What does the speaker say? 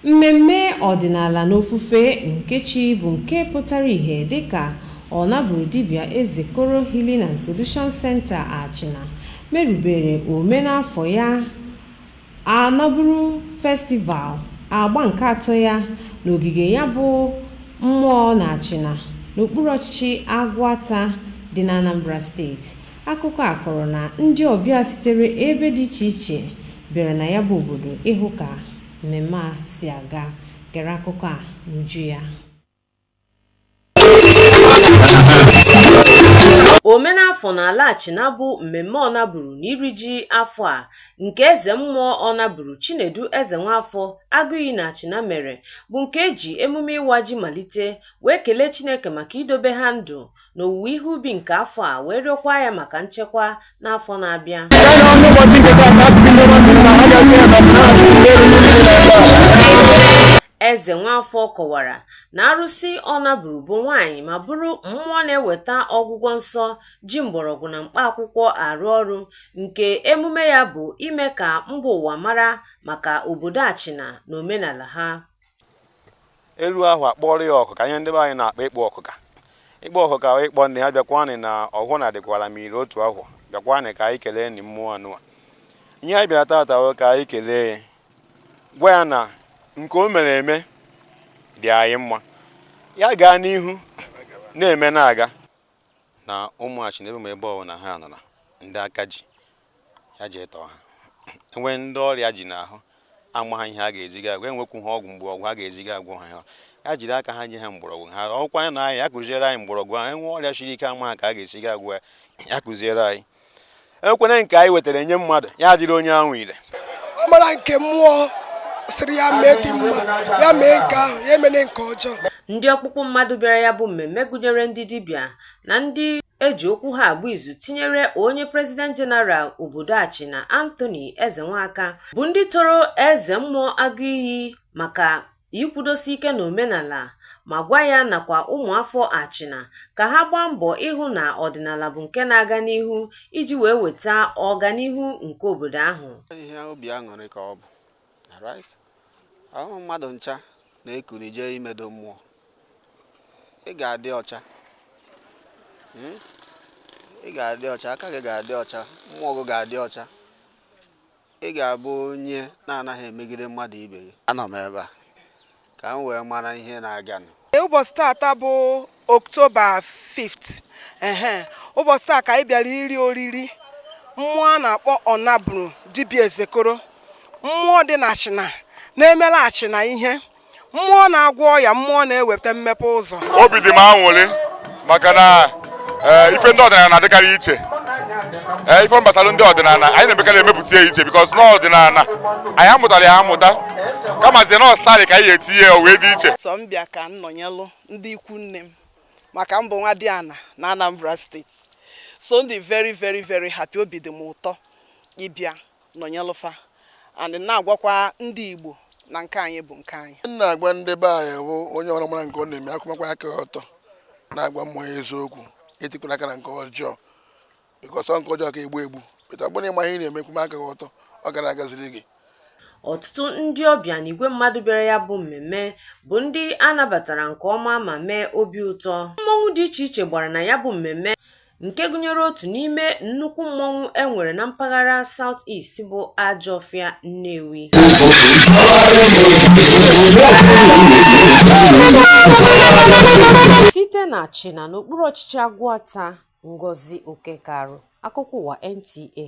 Mmemme ọdịnala na ofufe nke chi bụ nke pụtara ihe dịka Ọnaburu Dibịa Ezekoro Healing and Solution Center Achịna merubere omenafọ ya Ọnaburu Festival agba nke atọ ya n'ogige ya bụ mmụọ n'Achịna n'okpuru ọchịchị Agụata dị n'Anambra steeti. Akụkọ a kọrọ na ndị ọbịa sitere ebe dị iche iche bịara na ya bụ obodo ịhụ ka mmemme a si aga. Gere akụkọ a n'uju ya. Omenafọ n'ala Achịna bụ mmemme Ọnaburu na iri ji afọ a nke eze mmụọ Ọnaburu Chinedu Ezenwafọ Agụiyi na Achịna mere bụ nke e ji emume ịwa ji malite wee kelee Chineke maka idobe ha ndụ n'owuwe ihe ubi nke afọ a wee rịọkwa ya maka nchekwa n'afọ na-abịa ezenwafọ kọwara na arụsị ọnaburu bụ nwaanyị ma bụrụ mmụọ na-eweta ọgwụgwọ nsọ ji mgbọrọgwụ na mkpa akwụkwọ arụ ọrụ nke emume ya bụ ime ka mba ụwa mara maka obodo achịna na omenala ha elu ahụ akpọrọ ya ọkụka ihe ndị be anyị na-akpọ ịkpọ ọkụka ịkpọ ọkụka wụ ịkpọ nne ya bịakwanị na ọhụụ na adịkwara m iri otu ahụ bịakwanị ka anyị keleenị mmụọ anụwa ihe anyị bịara tata wụ ka anyị kelee ya gwa ya na nke o mere eme dị anyị mma ya gaa n'ihu na-eme na-aga na ụmụ achịna ebe ma ebe ọwụna ha nọ na ndị aka ji ya jee tọọ ha enwee ndị ọrịa ji n'ahụ amaha ihe a ga-eji ga agwọ enwekwuha ọgwụ mgbọrọgwụ a ga-eji ga agwọ ha ya jiri aka ha nye ha mgbọrọgwụ ha ọkwa anyị na anyị ya kụziere anyị mgbọrọgwụ ahụ enwe ọrịa siri ike amaha ka a ga-esi ga agwọ ya ya kụziere anyị enwekwanị nke anyị wetara nye mmadụ ya adịrị onye ahụ ire ọ mara nke mmụọ sịrị ya mee dị mma ya mee nke ahụ ya emene nke ọjọọ ndị ọkpụkpụ mmadụ bịara ya bụ mmemme gụnyere ndị dibịa na ndị eji okwu ha agba izu tinyere onye prezident jeneral obodo Achịna Anthony Ezenwaka bụ ndị toro eze mmụọ Agụiyi maka ikwudosi ike n'omenala ma gwa ya nakwa ụmụafọ Achịna ka ha gbaa mbọ ịhụ na ọdịnala bụ nke na-aga n'ihu iji wee weta ọganihu nke obodo ahụ. Ihe obi aṅụrị ka ọ bụ Alright. Ọ wụrọ mmadụ ncha na-ekuli jee imedo mmụọ. Ị ga-adị ọcha. Hmm? Ị ga-adị ọcha, aka gị ga-adị ọcha, mmụọ gị ga-adị ọcha. Ị ga-abụ onye na-anaghị emegide mmadụ ibe gị. Anọ m ebe a. ka m wee mara ihe na-aganụ. Ee, ụbọchị taata bụ October 5th. Ehe, ụbọchị taa ka anyị bịara iri oriri mmụọ a na-akpọ Ọnaburu dibịa Ezekoro. Mmụọ dị n'Achịna na-emere Achịna ihe. Mmụọ na-agwọ ọya, mmụọ na-eweta mmepe ụzọ. Obi dị m aṅụrị maka na eh, ife ndị ọdịnala na-adịkarị iche ee eh, ife gbasara ndị ọdịnala anyị na-emekarị emepụta ya iche because na ọdịnala anyị amụtara ya amụta kamazie na ọ style ka anyị etinye ya wee dị iche so m bịa ka m nọnyelụ ndị ikwu nne m maka m bụ nwadiana na Anambra State so m dị very very very happy obi dị m ụtọ ịbịa nọnyelụ fa and na-agwakwa ndị Igbo na nke anyị bụ nke anyị. M na-agwa ndị be anyị bụ onye ọbụla mara nke ọ na-eme akwụmakwa aka ya ọtọ na-agwa mmụọ ya eziokwu etikwala aka na nke ọjọọ because ọ nke ọjọọ ka egbu egbu but ọ bụ na ị ma ihe ị na-eme kwụma aka gị ọtọ ọ ga na-agaziri gị Ọtụtụ ndị ọbịa na igwe mmadụ bịara ya bụ mmemme bụ ndị a nabatara nke ọma ma mee obi ụtọ. Mmọnwụ dị iche iche gbara na ya bụ mmemme nke gụnyere otu n'ime nnukwu mmọnwụ e nwere na mpaghara South East bụ Ajọfịa Nnewi site n'Achịna n'okpuru ọchịchị Agụata Ngozi Okekearu akụkọ ụwa NTA